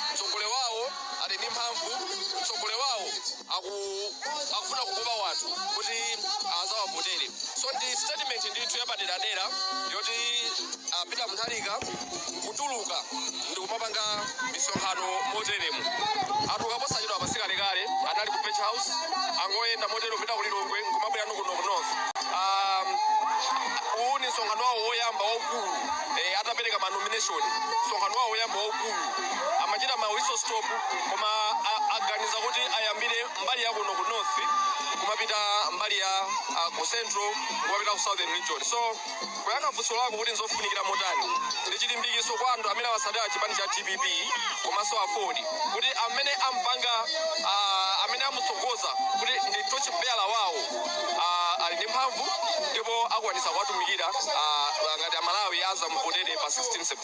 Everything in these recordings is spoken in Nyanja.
mtsogoleri wawo ali ndi mphamvu mtsogoleri wawo akufuna kukopa wanthu kuti azawavotere so ndi statement ndithu yapaderadera yoti ah, peter mutharika kutuluka ndikumapanga misonkhano moteremu atuluka posachedwapa sikalekale anali ku page house angoyenda motero kupita kulilongwe nkumabwera nukuno ku north um, uwu ni msonkhano wawo woyamba waukulu eh, atapereka manomination msonkhano wawo woyamba waukulu amachita ma whistle stop koma a- aganiza kuti ayambire mbali ya kuno ku north kumapita mbali ya ah, ku central kumapita ku southern region so kuyankha funso lako kuti nzofunikira motani ndi chilimbikiso kwa anthu amene amasatira chipani cha dpp komanso afodi kuti amene ampanga ah, amene amutsogoza kuti ndi torchbearer wawo ah, ali ndi mphamvu ndipo akwanisa kuwatumikira ah, ngati amalawi azamuvotere pa 16 September.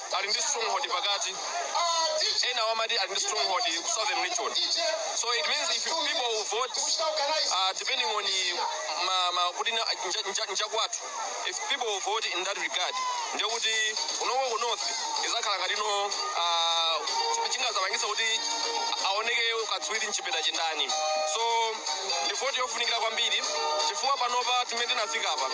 ali ndi stronghold pakati ena amati ali ndi stronghold ku southern region so it means if people will vote uh, depending on the ma, ma, kuti na- nja- nja- njakwathu if people will vote in that regard ndiye kuti kunoko ku north izakhala ngati no uh, chingazapangisa kuti aoneke katswiri mchipinda ndi ndani so ndi voti yofunikira kwambiri chifukwa panopa timene tinafika apa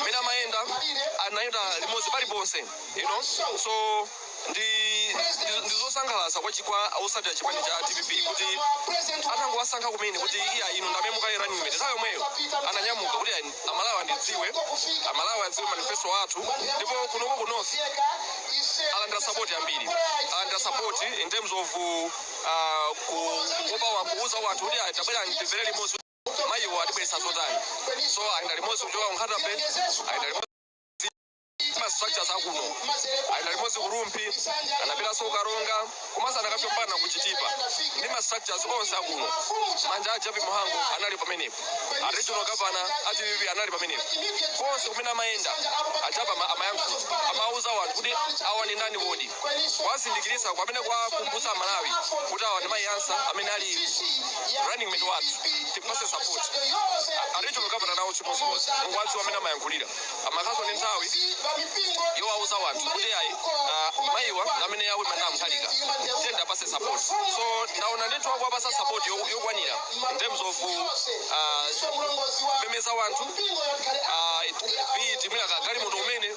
mmene amayenda anayenda limodzi paliponse you know so ndi ndi- ndi zosangalatsa kwa chi- kwa osatira chipani cha dpp kuti atangowasankha kumene kuti iya inu ndamene mukhale running mate nthawi yomweyo ananyamuka kuti ayi, amalawi andidziwe amalawi adziwe manifesto athu ndipo kunoko ku north alandira sapoti yambiri alandira sapoti in terms of uh, kukopa wa- kuuza wanthu kuti ayi, tabwera ndimvere limodzi mayiwo atibweretsa zotani so ayenda limodzi kuchoka kunkhata bay ayenda limodzi ma structures akuno ayenda limodzi kurumpi anapitanso kukaronga komanso anakafika mpaka na kuchitipa ndi ma structures onse akuno monga a jappie mhango anali pamenepo a regional governor a dpp anali pamenepo konse kumene amayenda a jappie ama- amayankhula amauza wanthu kuti awa ni ndani kodi kuwazindikiritsa kapena kuwakumbutsa amalawi kuti awa ndi mayi ansah amene ali running mate wathu tiwapase support a regional governor nawo chimodzimodzi mukuwadziwa amene amayankhulira amakhaso ndi nthawi yowauza wanthu kuti ayi ah, mayiwa ndi amene awe manda amkhalika tiyeni tiwapase support so ndaona ndithu akuwapasa support yo- yokwanira in terms of ah, kumemeza wanthu ah, it- be it mwina kagalimoto kumene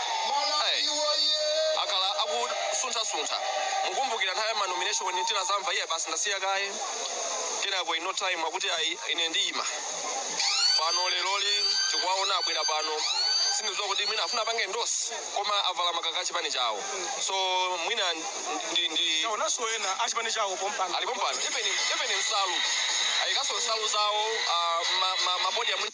Hey, akhala akusunthasuntha mukumbukira nthawi ya manomination tinadzamva iye basi ndasiya kaye kenako ino time akuti ayi ine ndiyima pano leroli tikuwaona abwera pano sindidziwa kuti mwina afuna apange ndosi koma avala makaka achipani chawo so mwina ndi, ndi taonanso ena achipani chawo pompano ali pompano even even nsalu ayikanso nsalu zawo ah, ma- ma- mabodi amwini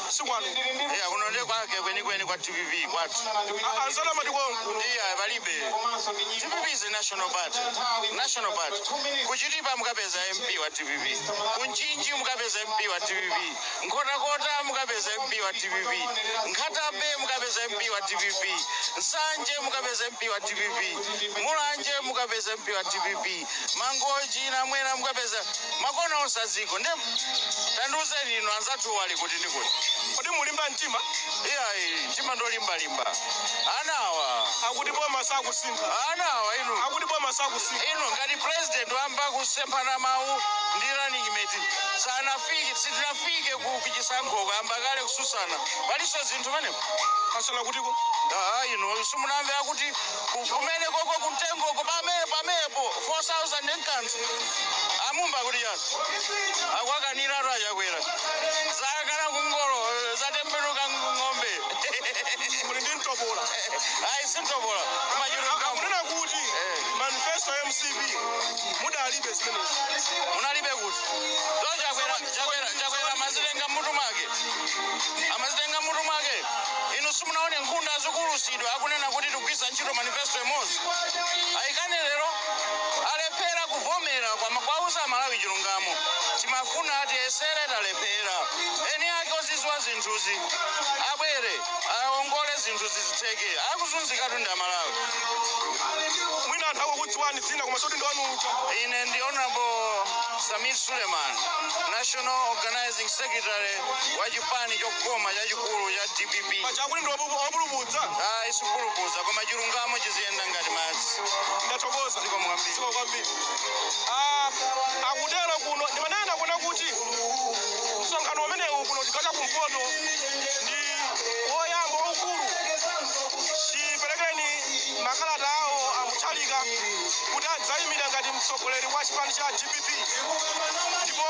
sikwanu Eh, kuno ndi kwake kwenikweni kwa dpp kwathu anzana mati konko ndiye palibe dpp is a national party national party kuchitipa mukapeza mp wa dpp kumchinji mukapeza mp wa dpp nkhotakota mukapeza mp wa dpp nkhatabay mukapeza mp wa dpp nsanje mukapeza mp wa dpp mulanje mukapeza mp wa dpp mangochi namwera mukapeza makona onse adziko nde tandiuzeni inu anzathu ali kuti ndikuti kodi mulimba mtima iyayi mtima ndolimbalimba anawa akuti boma sakusintha anawa inu akuti boma sakusintha inu ngati president wayamba kusemphana mawu ndi running mate sanafike sitinafike ku kuchisankho ayamba kale kususana palinso zinthu pamenepo asana kutiko aa inu simunamve akuti kumene koko kumtengoko pamene pamenepo 4000 nkanthu ayimba kuti yani akwakaniratu achakwera zakana kukoka ngolo zatembenuka ng'ombe muli ndi mtopola ayi simtopola kumachuluka akunena kuti manifesto ya mcp munalibe zimenezi munalibe kuti so chakwera chakwera chakwera amazitenga mmutu mwake amazitenga mmutu mwake inu simunaone nkhunda zikuulutsidwa akunena kuti tikugwiritsa ntchito manifesto imodzi ayikane lero alephera kuvomera kuwama kuwauza amalawi chilungamo timafuna tiyesere talephera eni ake ozidziwa zinthuzi abwere aongole zinthu zizitheke akuzunzikatu ndi amalawi mwina anthu akukudziwani dzina koma soti ndiwanu uja ine ndi honorable samir suleiman national organizing secretary wa chipani chokoma chachikulu cha dpp pachakuti ndi opulupudza ayi sikupulupudza koma chilungamo chiziyenda ngati madzi ndathokoza zikomo kwambiri zikomo kwambiri ah, akutero kuno ndimanena kuona kuti msonkhano umenewu kuno chigawo cha kumpoto ndi woyamba waukulu chiperekereni makalata awo amutharika kuti adzayimira ngati mtsogoleri wa chipani cha dpp ndipo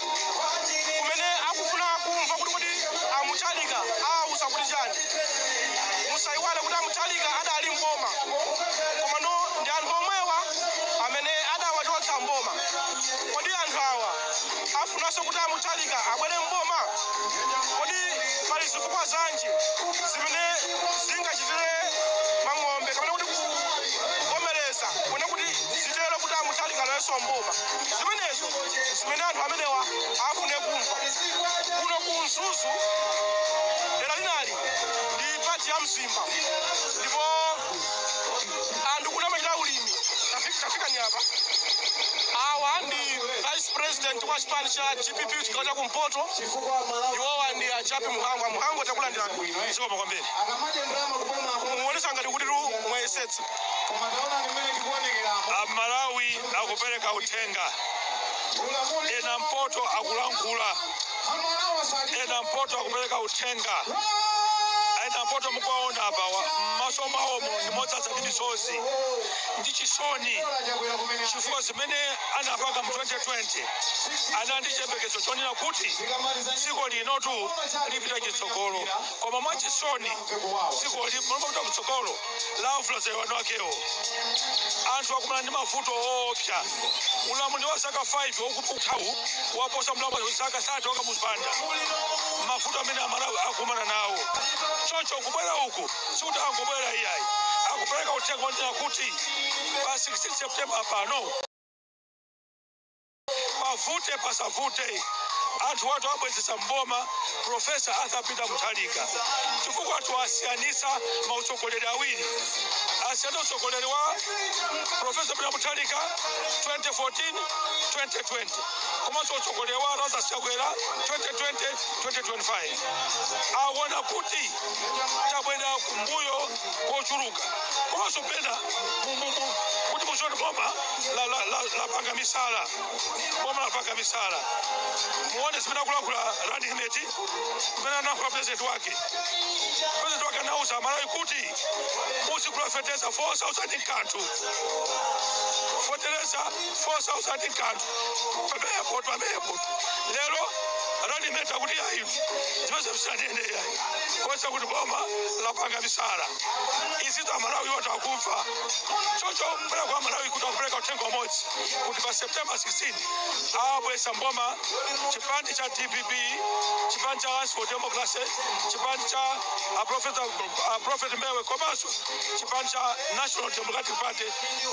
kumene akufuna kumva kuti kuti amuthalika awauza kuti chani musayiwale kuti amuthalika adali mboma komano ndi anthu omwewa amene adawachotsa mboma kodi anthu awa afunanso kuti amuthalika abwere mboma kodi pali zifukwa zanji zimene zingachitire mang'ombe kapena kuti kuvomereza kunena kuti zitero kuti amuthalika alowenso mboma zimenezo zimene anthu amenewa afune kumva kuno ku mzuzu dera lina ndi pati ya mzimba ndipo anthu kuno amachita ulimi Tafi- tafika ni apa awa ndi vice president wa chipani cha dpp chigawo cha kumpoto iwowa ndi a jappie mhango a mhango takulandirani zikomo kwambiri muonetsa ngati kuti tu mwayesetsa Koma taonani mmene tikuonekeramu. Amalawi akupereka uthenga. Eni mpoto akulankhula. Eni mpoto akupereka uthenga. Eni mpoto mukuwaona apawa m'maso mwawomo ndi modzadza ndi misozi ndi chisoni chifukwa zimene anapanga mu 2020 anali ndi chiyembekezo chonena kuti dziko linotu lipita chitsogolo koma mwachisoni dziko limopita kutsogolo Lavula zakumwamba akewo anthu akumana ndi mavuto oopsa ulamuliro wa zaka 5 wokupukhawu waposa ulamuliro wa zaka 30 wakamuzu banda mavuto amene amalawi akumana nawo choncho kubwera uku sikuti angobwera iyayi akupereka uthenga wonena kuti pa 16 september pano Pavute pasavute anthuwatu abwezesa m'boma Prof Arthur Peter Mutharika chifukwatu asiyanisa ma utsogoleri awiri. Asiyanitsa utsogoleri wa Prof Peter Mutharika 2014, 2020 komanso utsogoleri wa Lazarus Chakwera 2020, 2025. Awona kuti tabwelera kumbuyo kochuluka komanso mwapena kuti muziona boma. la- la- la- lapanga misala boma lapanga misala muone zimene akulankhula running mate zimene analankhula president wake president wake anauza amalawi kuti muzigula fetereza 4000 nkanthu fetereza 4000 nkanthu pamenepo pamenepo lero running mate akuti ayi zimenezo sitinanene ayi kuonetsa kuti boma lapanga misala izitu amalawi atakumva choncho mbali kwa amalawi kuti akupereka uthenga umodzi kuti pa september 16 awabweza mboma chipani cha dpp chipani cha alliance for democracy chipani cha a prophet, a prophet mbewe komanso chipani cha national democratic party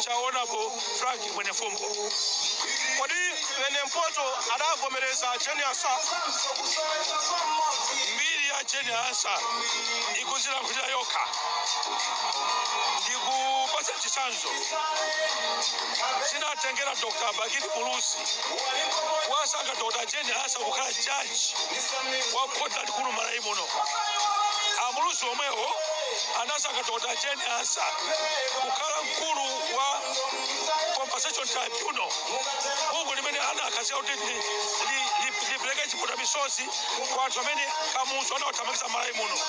cha honorable frank mwenifumbo kodi mene mpoto adavomereza jane ansah mbiri ya jane ansah ikudzilankhulira yokha ndikupatsa chitsanzo zinatengera dr bakili muluzi kuwasankha dr jane ansah kukhala jaji wa khoti lalikulu malawi muno amuluzi omwewo anasankha dr jane ansah kukhala mkulu wa compensation tribunal bungwe limene anakhazikitsa kuti li- li- li- lipereke chiputa misozi kwa anthu amene kamuzu anawathamangitsa malawi muno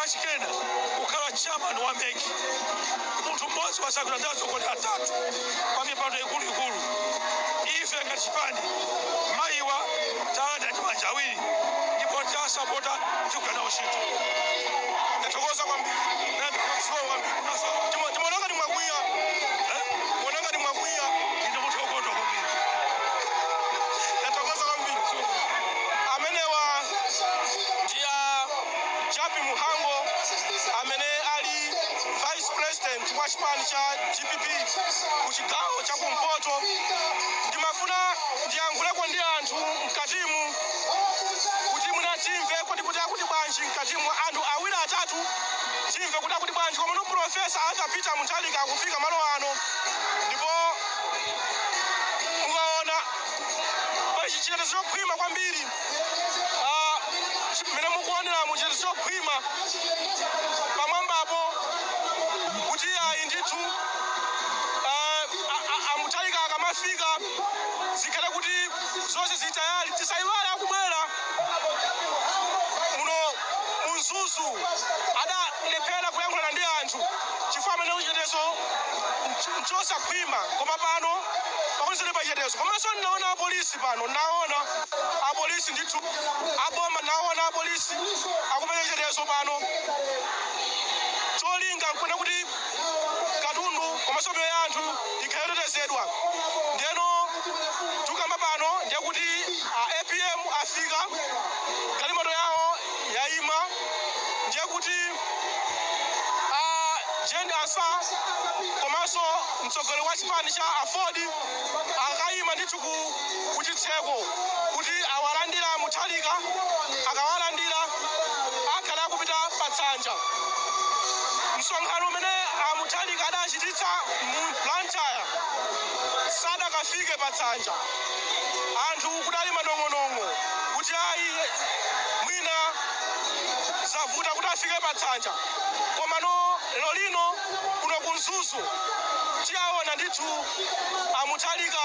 kachikena kukhala chairman wa mec munthu mmodzi wasankhidwa ndi atsogoleri atatu pa mipando ikuluikulu ife ngati chipani mayiwa talandira ndi manja awiri ndipo tasapota tikugwira nawo ntchito ndathokoza kwambiri ndathokoza kwambiri Ndima- ndimaona ngati mwakwiya eh? muona ngati mwakwiya ine munthu wokondwa kwambiri ndathokoza kwambiri amenewa ndi a Jappie Mhango amene ali vice president wa chipani cha dpp ku chigawo cha kumpoto ndimafuna ndiyankhuleko ndi anthu mkatimu kuti mwina timve kuti kuti akuti bwanji mkatimu anthu awiri atatu timve kuti akuti bwanji komano profesa arthur peter mutharika akufika malo ano ndipo mukaona pali chitetezo chokhwima kwambiri Ah, chi- mmene mukuoneramu chitetezo chokhwima pamwambapo kuti ayi ndithu ah, a- a- amutharika akamafika zikhale kuti zonse zitayali tisayiwale akubwera muno mu mzuzu adalephera kuyankhulana ndi anthu chifukwa amanena kuti chitetezo nchosakhwima koma pano pakuti zili pachitetezo komanso ndinaona apolisi pano ndinaona apolisi ndithu aboma naona apolisi akumenya chitetezo pano cholinga nkuna kuti katundu komanso miyoyo ya anthu ikhale yotetezedwa ndeno tukamba pano ndiye kuti a apm afika galimoto yawo yayima ndiye kuti a jane ansah komanso mtsogoleri wa chipani cha aford akayima ndithu ku kuchitseko kuti awalandile a Mutharika. Akawalandila akhala akupita patsanja. Msonkhano umene a Mutharika adachititsa mu Blantyre sadakafike patsanja. Anthu kudali manong'onong'o kuti ayi mwina zavuta kuti afike patsanja. Komano lero lino kuno ku Mzuzu tiwaona ndithu a Mutharika.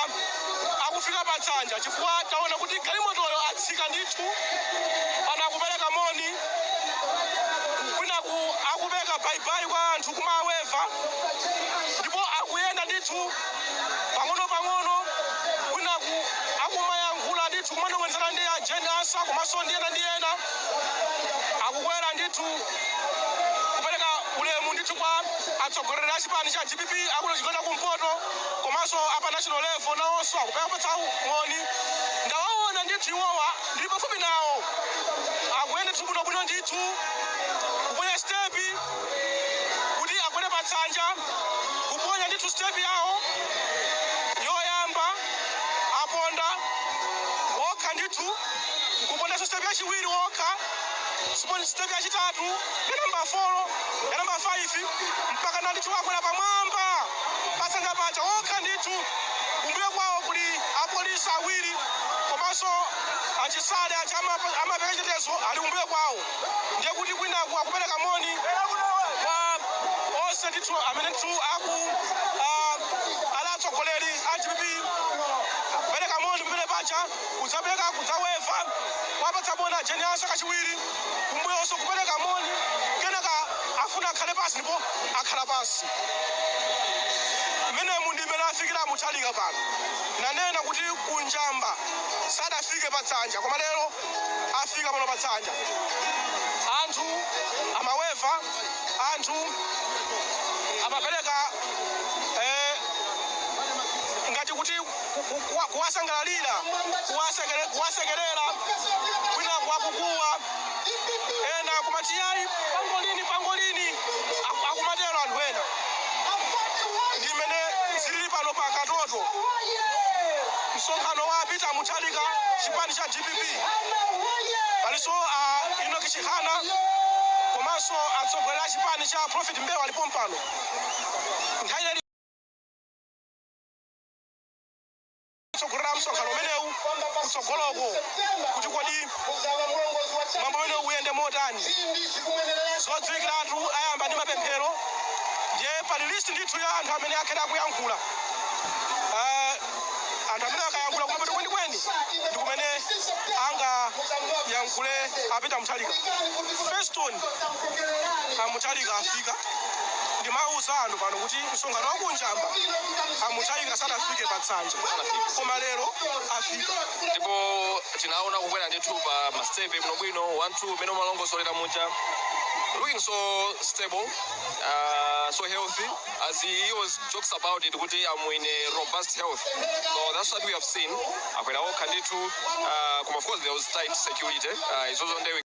akufika patsanja chifukwa taona kuti galimotoyo atsika ndithu pano akupereka moni kwinaku akupereka baibai kwa anthu kumaweva ndipo akuyenda ndithu pang'ono-pang'ono kwinaku akumayankhula ndithu kumanong'onezana ndi a jane ansah komanso ndi ena ndi ena akukwera ndithu kupereka ulemu ndithu kwa atsogoleri a chipani cha dpp akuno chigawo cha kumpoto komanso a pa national level nawonso akuwapatsa moni. Ndawaona ndithu iwowa, ndili pafupi nawo. Akuyenda ndithu bwinobwino ndithu, kuponya sitepi kuti akwere patsanja, kuponya ndithu sitepi yawo yoyamba, aponda okha ndithu, n'kupondanso sitepi yachiwiri okha, sitepi yachitatu, ya nambala folo, ya nambala faifi, mpakana ndithu akwera pamwamba. patsanja paja okha ndithu kumbuyo kwawo kuli apolisi awiri komanso a chisale aja amapa- amapereka chitetezo ali kumbuyo kwawo ndiye kuti kwinaku akupereka moni kwa onse ndithu amene ndithu aku ah, ali atsogoleri a dpp kupereka moni kumene paja kudzapereka kudzaweva awapatsa moni a jane ansah kachiwiri kumbuyonso kupereka moni kenaka afuna akhale pansi ndipo akhala pansi mmenemu ndi mmene afikira a mutharika pano nanena kuti ku njamba sadafike patsanja koma lero afika pano patsanja anthu amaweva anthu amapereka eh, ngati kuti ku- ku- kuwa- kuwasangalalira kuwasekere- kuwasekerera kwinaku akukuwa ena akumati yayi pangolini pangolini Aku- akumatero anthu ena ndi mmene zilili pano pa katoto msonkhano wa peter mutharika chipani cha dpp palinso a enoch chihana komanso atsogoleri a chipani cha prophet mbewe ali pompano nthawi kutsogolera msonkhano umenewu kutsogoloko kuti kodi mwambo umenewu uyende motani zodziwikiratu ayamba ndi mapemphero ndiye pali list ndithu ya anthu amene akhale akuyankhula Eh, anthu amene akayankhula kumapeto kwenikweni ndi kumene angayankhule a Peter Mutharika Feston a Mutharika afika ndimauza anthu pano kuti msonkhano wa ku Njamba a Mutharika sadafike pa nsanja koma lero afika ndipo tinaona kukwera ndithu pa masitepe bwinobwino 1 2 mmene umalongosolera muja looking so stable uh, so healthy as he always talks about it kuti I'm in a robust health so that's what we have seen akwera okha ndithu uh, koma of course there was tight security uh, izozo ndewe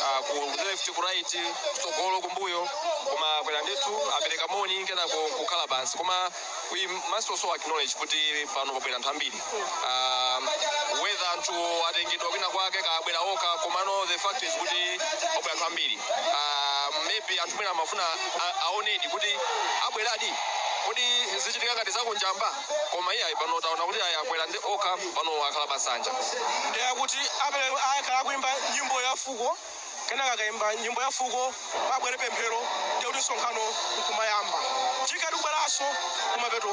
ah, ku ku left ku right kutsogolo kumbuyo koma akwera ndithu apereka moni kenako kukhala pansi koma we must also acknowledge kuti pano pabwera anthu ambiri Ah, whether anthu atengedwa kwina kwake kaya abwera okha komano the fact is kuti pabwera anthu ambiri Ah, maybe anthu mwina amafuna a- aonedi kuti abweradi kodi zichitika ngati za ku Njamba koma iyayi pano taona kuti ayi akweradi okha pano akhala pansanja ndiye kuti akhala akuimba nyimbo ya fuko kenaka akaimba nyimbo ya fuko pabwere pemphero ndiye kuti msonkhano nkumayamba tikhala tikubweranso kumapeto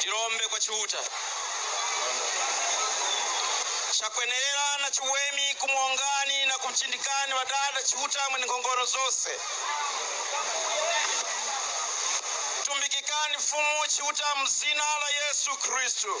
Tilombe kwa Chiuta. Chakwenerera na chiwemi kumuongani na kumchindikani wadada Chiuta mwene nkhongono zonse. Tumbikikani Mfumu Chiuta mzina la Yesu Khristu.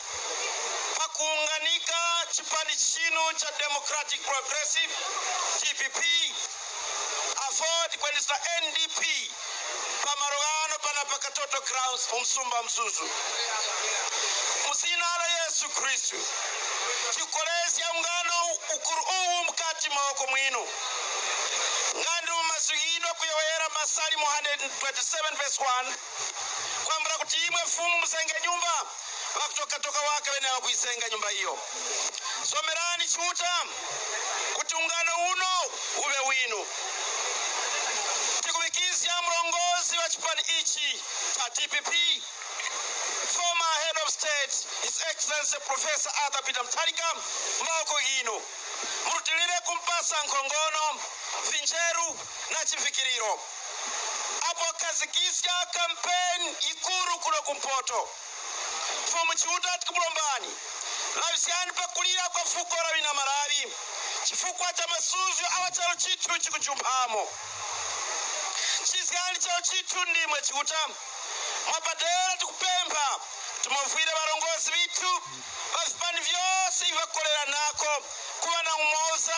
pa kuunganika chipani chinu cha Democratic Progressive, dpp, aford kweniso ndp pa malo ano pana pa Katoto Grounds mu msumba wa Mzuzu. Muzina la Yesu Kristu tikolezi aungano ukuru uwu mkati maoko mwinu ngandi mumazwiyidwa kuyowera Masalimo 127 verse 1 kwambula kuti imwe mfumu muzenge nyumba bakutoka toka waka bene bakuizenga nyumba iyo zomerani chiuta kuti ungano uno ube winu tikubikizya mlongozi wa chipani ichi cha dpp former head of state his excellency professor arthur peter mutharika mmaoko yinu murutilire kumpasa nkhongono vinjeru na chivikiriro apokhazikisya campaign ikulu kuno ku mpoto mfumu chiuta tikumulombani lawisiyani pa kulira kwa fuko la wina Malawi chifukwa cha masuzgo awa chalo chithu chikujumphamo chizgani chalo chithu ndimwe chiuta mwapadera tikupempha kuti muvwire varongozi vithu va vipani vyose ivi vakoleranako kuva na umoza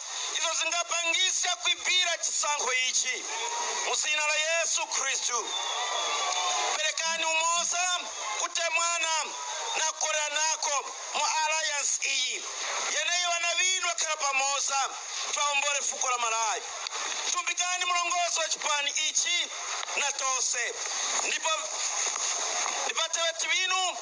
Izo zingapangitse kuipira chisankho ichi, mu Dzina la Yesu Khristu. Perekani umoza, kutemwana, na kukoleranako, mu alliance iyi, yeneiyo wana winu wakhala pamoza, kuti aombole fuko la Malawi. Tumbikani, mulongozi wa chipani ichi, na tonse, ndipo, ndi wateweti winu.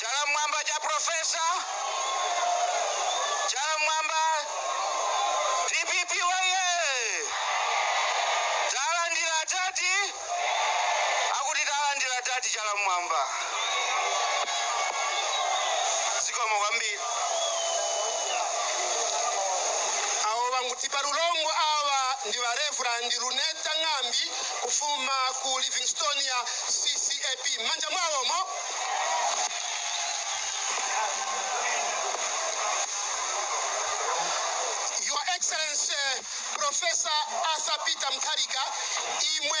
Chala mmwamba cha Professor. Chala mmwamba. DPP woye. Talandira adadi. Akuti talandira adadi chala mmwamba. Zikomo kwambiri. awo bangutipa lulombo awa ndi ba reverend luneta ng'ambi kufuma ku livingstonia CCAP m'manja mwawomo. Your Excellency Professor Arthur Peter Mutharika, imwe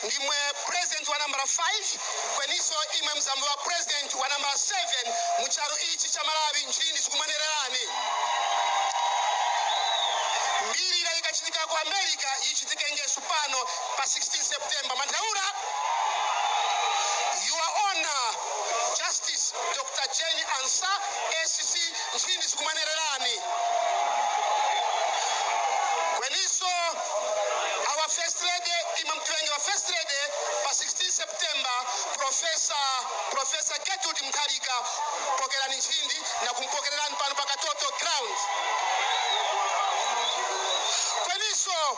ndimwe president wa nambala 5 kweninso imwe muzamuwa president wa nambala 7 mu chalo ichi cha Malawi nchindi zikumwenererani mbiri ikachitika ku America ichitike ngesu pano pa 16 September Manthaura Your Honor Justice Dr. Jane Ansah SC Nchindi zikumwenererani Kweniso our first lady Imam Twenge wa first lady pa 16 September Professor Gertrude Mutharika pokerani nchindi na kumpokererani pano pa Katoto ground Kweniso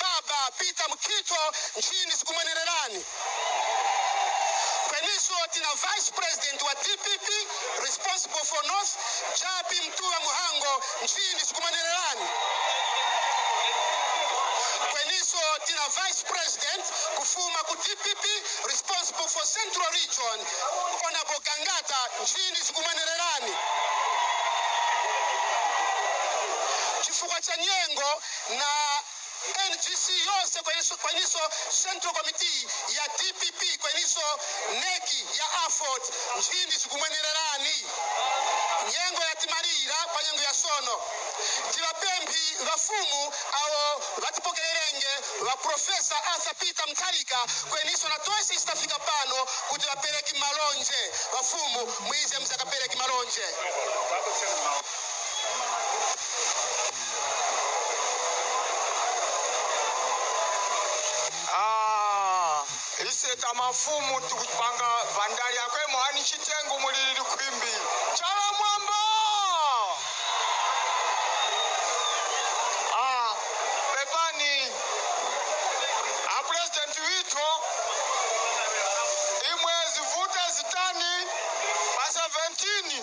Baba Peter Mkhitho nchini sikumwenererani kweninso tina vice president wa dpp responsible for north Jappie Mtuwa Mhango nchini sikumwenererani kweninso tina vice president kufuma ku dpp responsible for central region honorable Gangata nchini sikumwenererani chifukwa cha nyengo na NGC yonse kweninso Central Committee ya dpp kweninso NEC ya aford nchindi zikumwenererani nyengo yatimalira pa nyengo ya sono tibapemphi bafumu awo batipokererenge ba Professor Arthur Peter Mutharika kweninso na tonse ise tafika pano kuti bapereki malonje bafumu mwize muzakapereki malonje Ah, iseta mafumu tikupanga vandali akwe mwani chitengu mulili khwimbi chala mwamba ah, pepani a president witho imwe zivuta zitani pa 17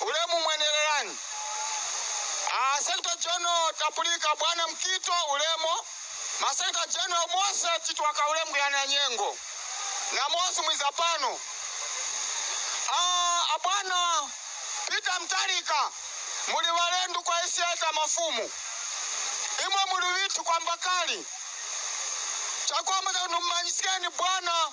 Ulemu mwenelelani. A Secretary General Tapulika Bwana Mukhito ulemu, ma Secretary General wose Chitwaka Ulemu Yana Nyengo na mose mwiza pano, Abwana Peter Mutharika muli walendo kwa SI ka mafumu imwe muli withu kwamba kale chakwamba chakuti nimumanyiskeni Bwana.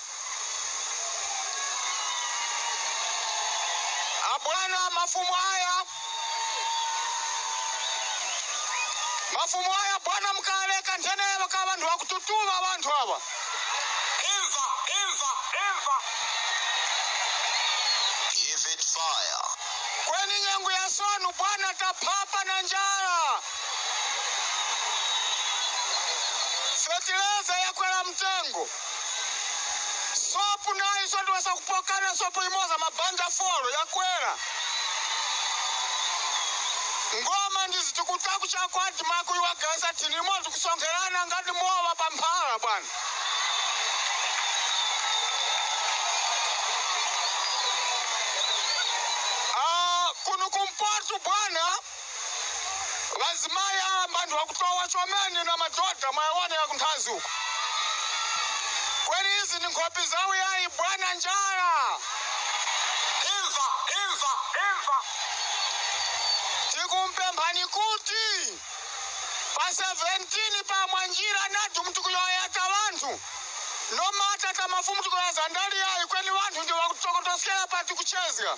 abwana mafumu aya mafumu aya bwana mkaleka nthenelo ka banthu akututuma banthu aba imva imva imva give it fire kweni nyengo ya sono bwana taphapa na njala fetileza yakwela mtengo Soap nayoso ndiwesa kupokana soap imoza mabanja folo yakwela ngoma ndizitikutak chako admark uyu wagawesa thin imo tikusonkhelana ngati mowa pa mphala bwana Ah, kuno kumpoto bwana Azimai awa mbanthu akutowa chomene inu amadhodha mwayawona yakunthanzi uko kweni izi ndi nkhopi zawu yayi bwana njala imva imva imva tikumpemphani kuti pa 17 pa mwanjira nadu mtikuyoyata wanthu nomata tamafumu tikoyaza ndali yayi kweni wanthu ndi wakutokotoskera pati kuchezga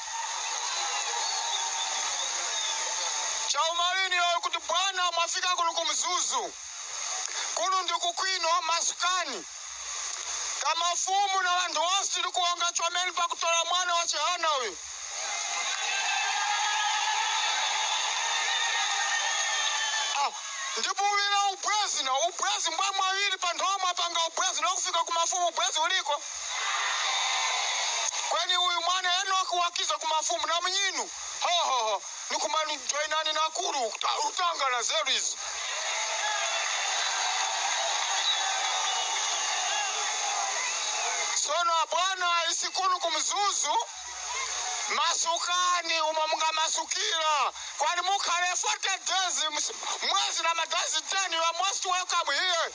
chaumali niyowoye kuti bwana mwafika kuno ku Mzuzu kuno ndi kukwinu masukani kamafumu na wanthu wose tili kuwonga chomeni pakutora mwana wa Chihana uyu Ah, ndipo uvira ubwezi na ubwezi mbwa wawiri panthu omwe apanga ubwezi nokufika kumafumu ubwezi uliko kweni uyu mwana enoki wakiza ku mafumu na mnyinu hohoho nikumani joinani na kulu uta- utanga na zeru izi sono abwana isikulu kumzuzu masukani umo mungamasukira kwani mukhale 40 days ms- mwezi na madazi 10 you are most welcome here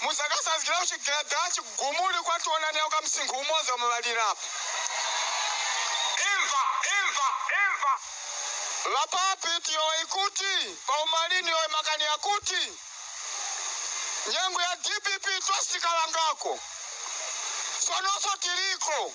Mu zaka za Grouchy Gada, chigumuli kwa tiona nayo ka msinkhu umoza wa mabalirapo. Imva! Imva! Imva! Lapapi tiyowoye kuti, pa umali niyowoye makani yakuti. Nyengo ya DPP twasikalangako, sonoso tiliko.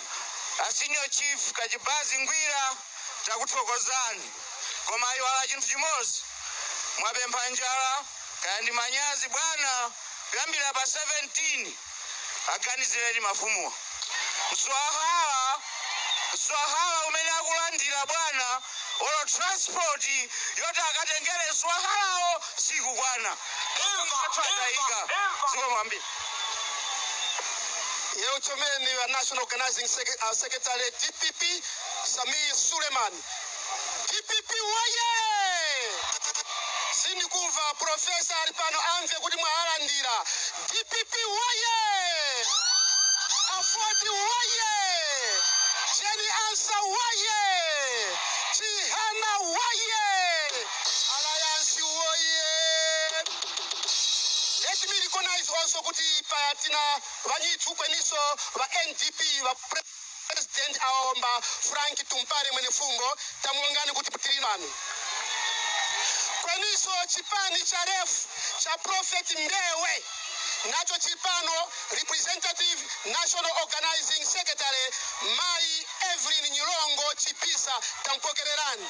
A Senior Chief Kachibazi Ngwira takuthokozani koma ayiwala chinthu chimozi mwapempha njala kaya ndi manyazi bwana kuyambira pa 17 aganizireni mafumuwa mswahala mswahala umene akulandira bwana olo transport yoti akatengere mswahalawo sikukwana athu atayika zikomo kwambiri Yewo chomeni wa National Organizing Sec- uh, Secretary DPP Sameer Suleman. DPP woye! Sindikumva profesa ali pano amve kuti mwawalandira. DPP woye! AFORD woye! Jane Ansah woye! Chihana woye! Alliance woyee! Let me recognize also kuti paya tina vanyithu kweniso va NDP va president aomba Frank Tumpare mwene fungo tamulongani kuti tiri nanu. Kweniso chipani cha ref cha Prophet Mbewe nacho chipano representative national organizing secretary Mai Evelyn Nyilongo Chipisa tampokererani.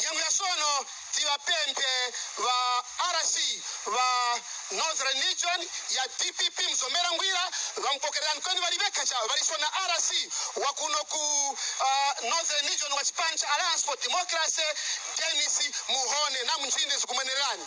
Nyengo ya sono tiba pempe ba RC ba Northern Region ya DPP mzomera ngwira bampokerera nkweni bali beka cha bali sona RC wa kuno ku uh, Northern Region wa chipani cha Alliance for Democracy Dennis Muhone na mnjinde zikumenerani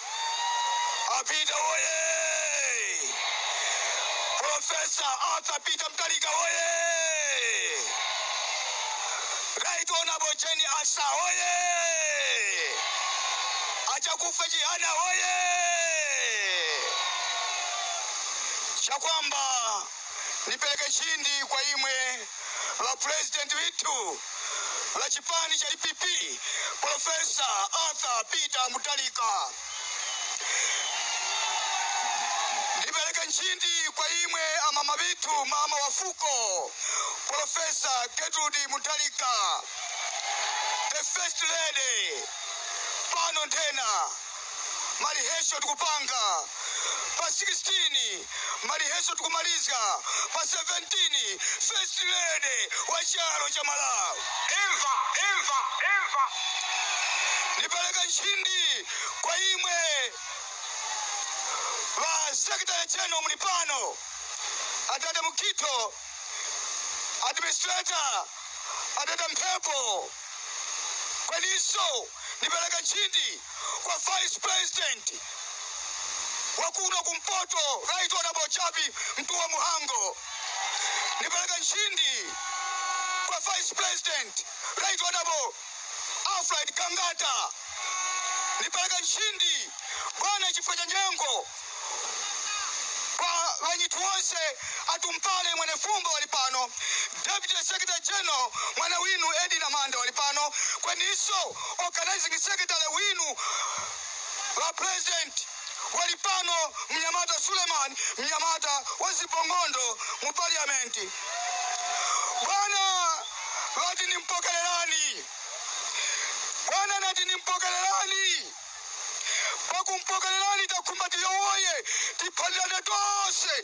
A Peter woyee! Professor Arthur Peter Mtalika woyee! Right Honorable Jane Asa woyee! Achakufa Chihana woyee! Chakwamba Nipeleke nchindi kwa imwe ba President withu ba chipani cha dpp Professor Arthur Peter Mutharika. Nipeleke nchindi kwa imwe amama withu mama wa fuko Professor Gertrude Mutharika the first lady pano ntena ma rehearsal tikupanga pa 16 ma rehearsal tikumalizga pa 17 first lady wa chalo cha malawi imva imva imva ndipereka nchindi kwa imwe wa secretary general muli pano adada mukhito administrator adada mphepo kweniso ndipereka nchindi kwa vice president wakuno kumpoto right honorable jappie mtuwa mhango ndipereka nchindi kwa vice president right honorable alfred gangata ndipereka nchindi bwana chifukwa cha nyengo Kwa banyitu wonse atumpale mwane fumbo wali pano Deputy Secretary General mwana winu Edina Manda wali pano kweninso Organizing Secretary winu Ba President wali pano Mnyamata Suleman Mnyamata wa Zibongondo mu Parliament Bwana bati nimpokelelani Bwana nati nimpokelelani pakumpokererani takhumba tiyowoye tiphalirane tonse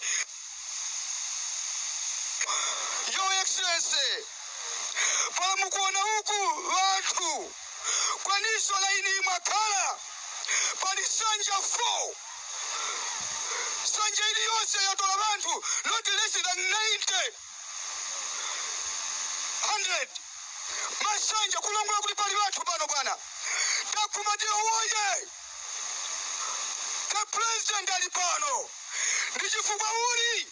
your excellency pala mukuona uku wanthu kweniso laini imakhala pali sanja 4 sanja iliyonse yatola wanthu not less than 90 100 masanja kulongola kuti pali banthu pano bwana takhumba tiyowoye the president ali pano ndi chifukwa uli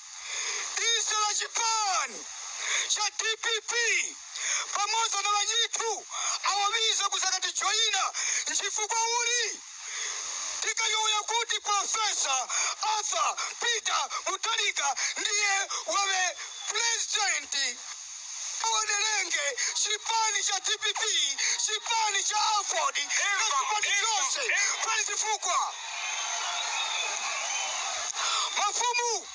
ise ba chipani cha dpp pamodzi na banyithu awa wiza kuzakatijoyina nchifukwa uli Tikayowoya kuti Professor Arthur Peter Mutharika ndiye wawe President awadelenge chipani cha dpp chipani cha aford na chipani chonse pali chifukwa mafumu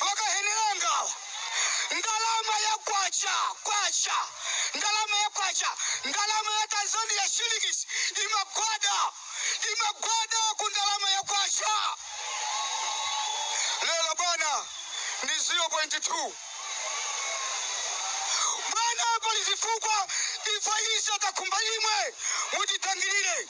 Makahenera angawa, ndalama ya kwacha, kwacha, ndalama ya kwacha, ndalama ya Tanzania shillings imagwada, imagwada ku ndalama ya kwacha. Lero bwana ndi 0.2 bwana, pali zifukwa ifa ise takhumba imwe mutidangilire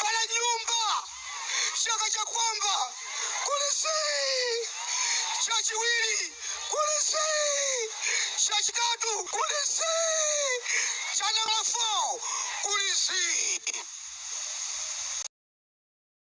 Pala nyumba chaka cha kwamba kulisi chachiwiri kulisi chachitatu kulisi chanala 4 kulisi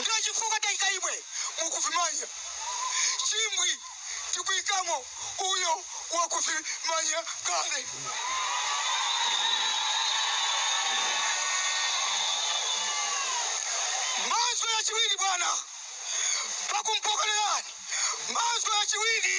Ndiye chifukwa taika imwe mukuvimanya chimbwi tikuikamo uyo wakuvimanya kale. Mazwi achiwiri, bwana, pakumpokelerani mazwi achiwiri.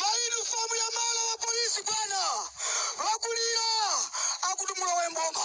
mainufomu ya malo wa polisi bwana akulira akuti mulowe mboma